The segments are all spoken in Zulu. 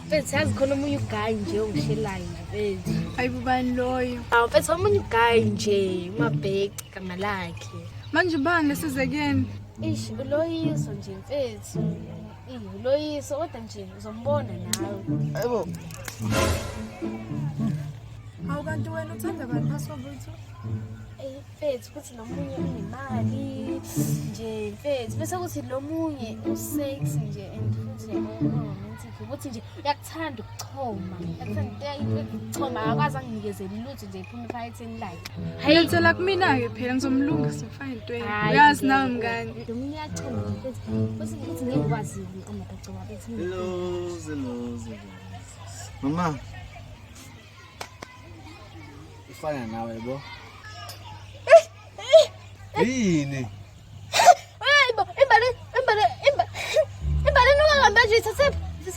mfethu yazi khona omunye ugayi nje ongishelayo nje mfethu hayi bubani loyo awu mfethu omunye ugayi nje umabheki gama lakhe manje ubani lesize kuyena ish uloyiso nje mfethu uloyiso kodwa nje uzombona nawe ayibo hawu kanti wena uthanda bani phasi kwabutho mfethu ukuthi lo munye unemali nje mfethu bese kuthi lo munye usex nje and futhi romantic ukuthi nje uyakuthanda ukuchoma uyakuthanda into yokuchoma akakwazi anginikezeli lutho nje iphuma ephaketheni lakhe hayi ngicela kumina-ke phela ngizomlungisa fine into uyazi nawe mngani lo munye uyachoma mfethu bese kuthi ngeke ukwazi ukuqomba kagcoba bethi mama ifana nawe bo yini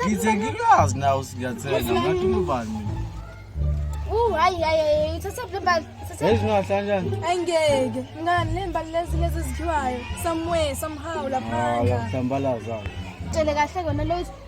ngithe ngikwazi nawe singathenga ngathi ubani angeke ngani le mbali lezi lezi ezikhiwayo somewhere somehow laphana hlambalaza tshele kahle kona lo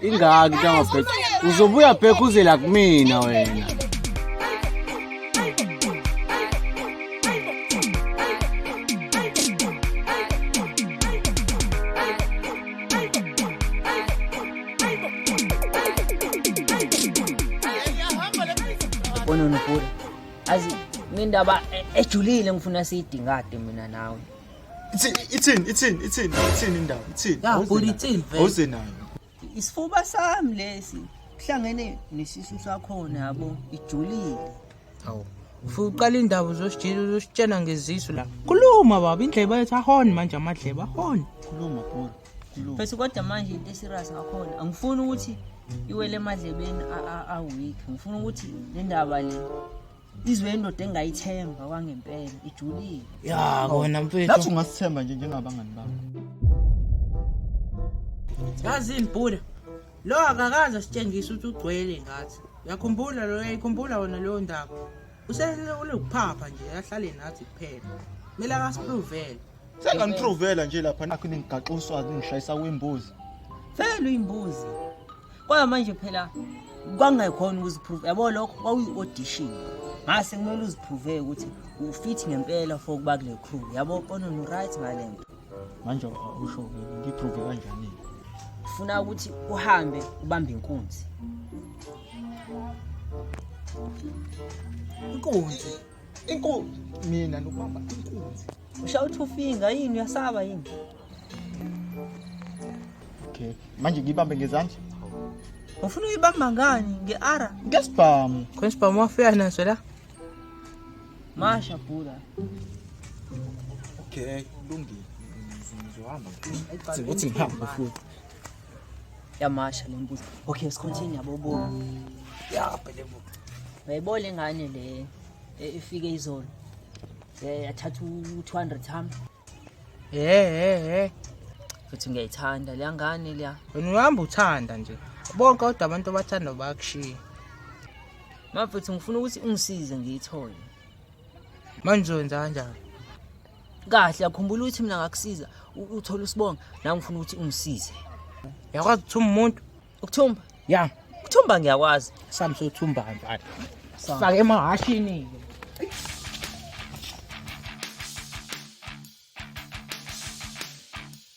ingaki into angabheka uzobuya bheka uzela kumina wena Bona nobhuti azi ngendaba ejulile ngifuna siyidingade mina nawe Ithini ithini ithini ithini indaba ithini. Ya bhuti ithini vele. Awuze nayo. Isifuba sami lesi kuhlangene nesisu sakhona yabo ijulile. Hawu. Ufuna uqala indaba uzositshela uzositshena ngezisu la. Khuluma baba indleba yethu ahoni manje amadleba ahoni. Khuluma bhuti. Khuluma. Bese kodwa manje into eserious ngakhona angifuni ukuthi iwele emadlebeni a- a- a-weak ngifuna ukuthi le ndaba le izwe indoda engayithemba kwangempela ijulile ya kona mfethu nathi ungasithemba nje njengabangani bakho yazini bhuda lo akakaze sitshengise ukuthi ugcwele ngathi uyakhumbula lo uyayikhumbula wona leyo ndaba usekulekuphapha nje ahlale nathi kuphela kumele akasipruvele Senganiprovela nje lapha nakho ningigaxa uswazi ngishayisa wembuzi. Vele uyimbuzi. Kodwa manje phela kwangekhona ukuziprove. Yabo lokho kwakuyi audition. Ngase kumele uziprove ukuthi ufit ngempela for ukuba kule crew. Yabo kono no right ngalento. Manje usho ngiprove kanjani? Ufuna ukuthi uhambe ubambe inkunzi. Inkunzi. Inkunzi mina nokubamba inkunzi. Ushawu two finger yini uyasaba yini? Okay. Manje ngibambe ngezandla. Ufuna uyibamba ngani ngeara? Ngesibhamu. Khona isibhamu wafika naso la. Masha bhula. Okay, kulungile. Ngizohamba. Ukuthi ngihamba futhi. Yamasha le mbuzi. Okay, let's continue bobo. Yeah, phele bo. Bayibona ingane le efike izolo. Eh yathatha u200 ham. Eh eh eh. Futhi ngiyayithanda le ngane le. Wena uhamba uthanda nje. Bonke kodwa abantu abathanda bakushiya. Mafethu ngifuna ukuthi ungisize ngiyithole. Manje wenza kanjani? kahle akhumbula ukuthi mina ngakusiza uthole usibonga la ngifuna ukuthi ungisize yakwazi ukuthumba umuntu ukuthumba ya ukuthumba ngiyakwazi sami sothumba kanjani sifake emahashini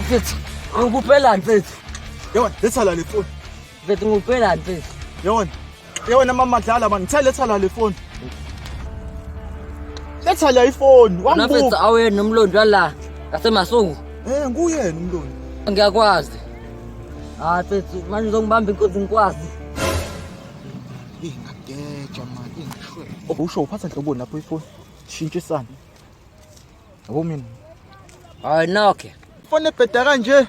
mfethu ngikuphelani mfethu yona letha la le foni mfethu ngikuphelani mfethu yona yona mama dlala mani ngithe letha la le foni letha la ifoni wambuka awena umlondo wala ngasemasuku eh nguyena umlondo ngiyakwazi hayi mfethu manje uzongibamba inkunzi ngikwazi ingageja mani ingishwe usho uphatha nhloboni lapho ifoni shintshisana Yabo mina. Hayi noke. Fone ebheda kanje.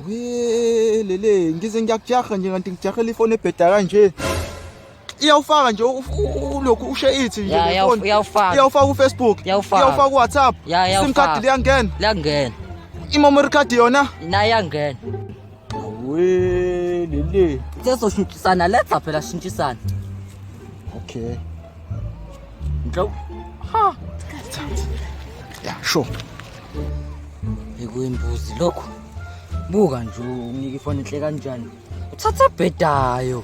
Welele, ngize ngiyakujaha nje kanti ngijahela ifone ebheda kanje. Iyawufaka nje ulokhu ushe ithi nje Ya, iyawu- ifone. iyawufaka. Iyawufaka uFacebook. Iyawufaka. Iyawufaka uWhatsApp. Ya, iyawufaka. SIM card liyangena. Liyangena. Imemory card yona. Naye angena. We lele. Sesoshintshisana letha phela shintshisana. Okay. Ngicela ha. Yeah, sure. Ekuyimbuzi lokho. Buka nje unike ifoni enhle kanjani. Uthatha bhedayo.